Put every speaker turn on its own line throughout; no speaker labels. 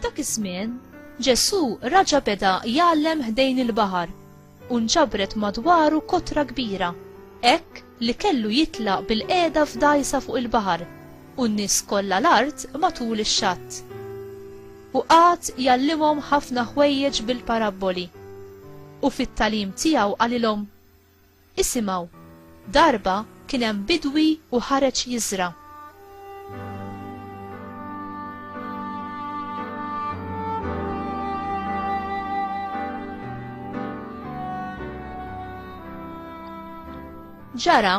F'dak iż-żmien, Ġesù raġa' beda jgħallem ħdejn il-baħar u nġabret madwaru kotra kbira, hekk li kellu jitlaq bil-qiegħda f'dgħajsa fuq il-baħar u n-nies kollha l-art matul ix-xatt. U qagħad jgħallimhom ħafna ħwejjeġ bil-parabboli. U fit-tagħlim tiegħu qalilhom, Isimgħu, darba kien hemm bidwi u ħareġ jiżra'. Ġara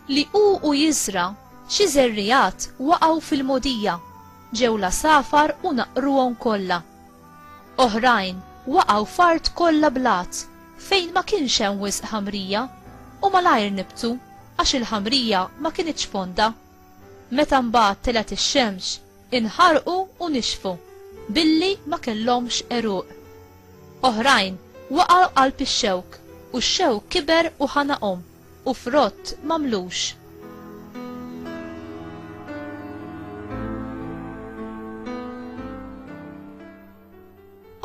Li hu u jiżra' xi żerriegħat waqgħu fil-mogħdija, ġew l-għasafar u naqqruhom kollha. Oħrajn waqgħu f'art kollha blat fejn ma kienx hemm wisq ħamrija, u malajr nibtu għax il-ħamrija ma kinitx fonda. Meta mbagħad telgħet ix-xemx, inħarqu u nixfu, billi ma kellhomx għeruq. Oħrajn waqgħu qalb ix-xewk, u x-xewk kiber u ħanaqhom. u frott m'għamlux.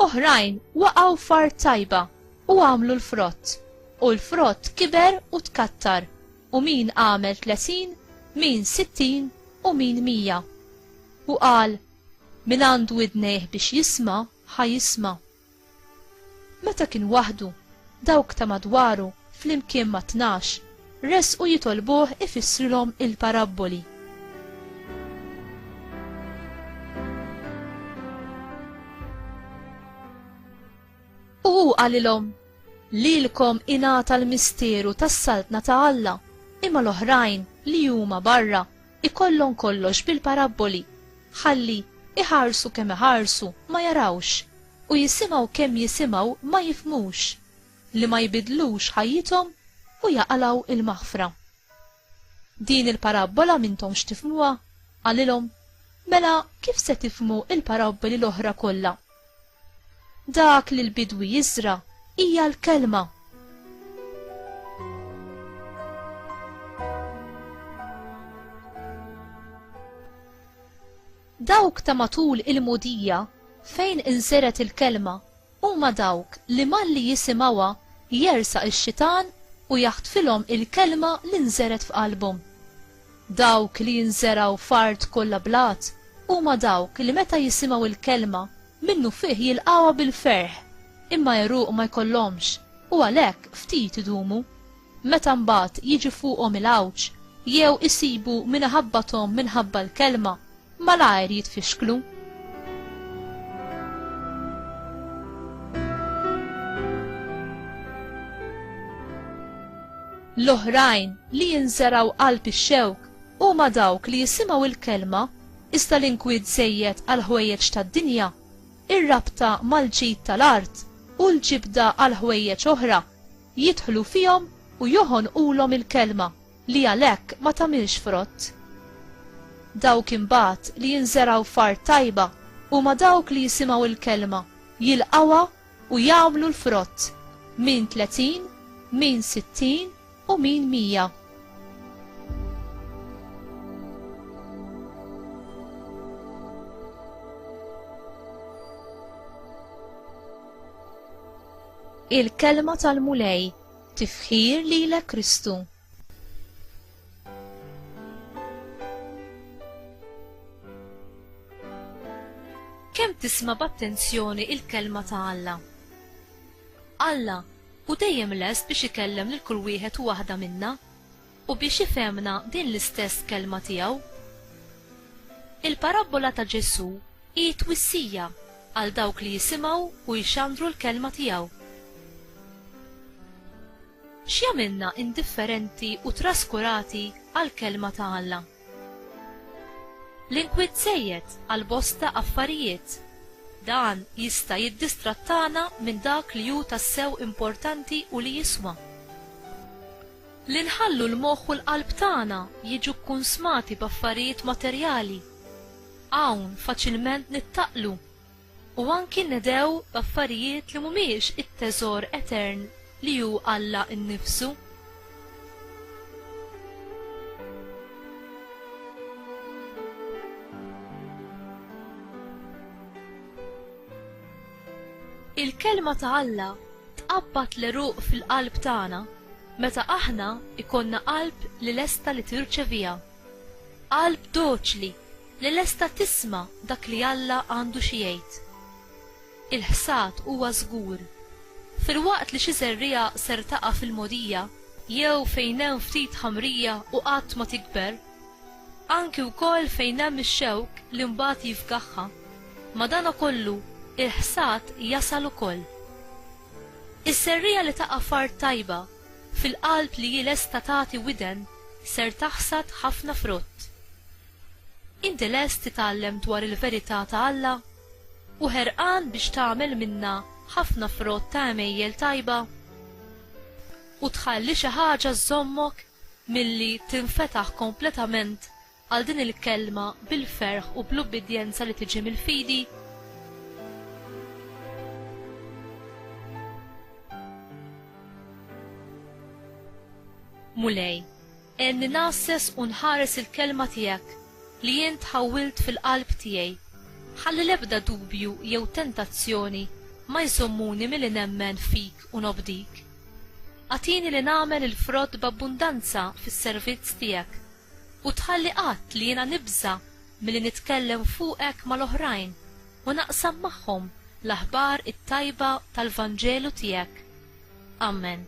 Oħrajn waqgħu f'art tajba u għamlu l-frott, u l-frott kiber u tkattar, u min għamel tletin, min sittin u min mija. U qal, min għandu idnejh biex jisma, ħa jisma. Meta kien waħdu, dawk ta' madwaru, flimkien mat-tnax, resqu jitolbuh ifissrilhom il-parabboli. U hu qalilhom, Lilkom ingħata l-misteru tas-saltna ta' Alla, imma l-oħrajn li huma barra ikollhom kollox bil-parabboli, ħalli iħarsu kemm iħarsu ma jarawx, u jisimgħu kemm jisimgħu ma jifhmux, li ma jbiddlux ħajjithom u jaqalgħu l-maħfra. Din il-parabbola m'intomx tifhmuha? qalilhom, mela kif se tifhmu l-parabboli l-oħra kollha? Dak li l-bidwi jiżra' hija l-kelma. Dawk ta' matul il-mudija fejn inżergħet il-kelma huma dawk li malli jisimgħuha jersaq ix-xitan u jaħtfilhom il-kelma li nżergħet f'qalbhom. Dawk li jinżergħu f'art kollha blat huma dawk li meta jisimgħu l-kelma, minnufih jilqgħuha bil-ferħ, imma għeruq ma jkollhomx, u għalhekk ftit idumu. Meta mbagħad jiġi fuqhom il-għawġ, jew isibu min iħabbathom minħabba l-kelma, malajr jitfixklu. L-oħrajn li jinżeraw qalb ix-xewk huma dawk li jisimgħu il-kelma iżda l-inkwiet żejjed għal ħwejjeġ tad-dinja, ir-rabta mal-ġid tal-art u l-ġibda għal ħwejjeġ oħra jidħlu fihom u joħonqulhom il-kelma. li għalhekk ma tagħmilx frott. Dawk imbagħad li jinżergħu f'art tajba huma dawk li jisimgħu l-kelma, jilqgħuha u jagħmlu l-frott, min tletin, min sittin u min mija. il-kelma tal-Mulej Tifħir lilek Kristu. Kemm tisma' b'attenzjoni il-kelma ta' Alla? Alla hu dejjem lest biex ikellem lil kull wieħed u waħda minna. U biex ifhemna din l-istess Kelma tiegħu. Il-parabbola ta' Ġesù hi twissija għal dawk li jisimgħu u jxandru l-Kelma tiegħu. X'jagħmilna indifferenti u traskurati għall-Kelma ta' Alla? L-inkwiet żejjed għal bosta affarijiet. Dan jista' jiddistrattana minn dak li hu tassew importanti u li jiswa. Li nħallu l-moħħ u l-qalb tagħna jiġu kkunsmati b'affarijiet materjali, hawn faċilment nittaqlu u anki nnedgħu b'affarijiet li mhumiex it-teżor etern li hu Alla nnifsu. Il-Kelma ta' Alla tqabbad l-għeruq fil-qalb tagħna meta aħna jkollna qalb li lesta li tirċeviha. Qalb doċli li lesta tisma' dak li Alla għandu xi jgħid. Il-ħsad huwa żgur. Filwaqt li xi żerriegħa ser taqa' fil-mogħdija jew fejn hemm ftit ħamrija u qatt ma tikber, Anki wkoll fejn hemm ix-xewk li mbagħad jifgaħha. Madankollu, il-ħsad jasal ukoll. Is-serriegħa li taqa' f'art tajba, fil-qalb li hi lesta tagħti widen, ser taħsad ħafna frott. Inti lest titgħallem dwar il-verità ta' Alla? U ħerqan biex tagħmel minnha ħafna frott ta' għemejjel tajba? U tħalli xi ħaġa żżommok milli tinfetaħ kompletament għal din il-kelma bil-ferħ u bl-ubbidjenza li tiġi mill-fidi? Mulej, għenni nasses u nħares il-kelma tiegħek li jien tħawwilt fil-qalb tiegħi. Ħalli l-ebda dubju jew tentazzjoni ma jżommuni milli nemmen fik u nobdik. Agħtini li nagħmel il-frott b'abbundanza fis-servizz tiegħek, u tħalli qatt li jiena nibża' milli nitkellem fuqek mal-oħrajn u naqsam magħhom l-aħbar it-tajba tal-Vanġelu tiegħek. Amen.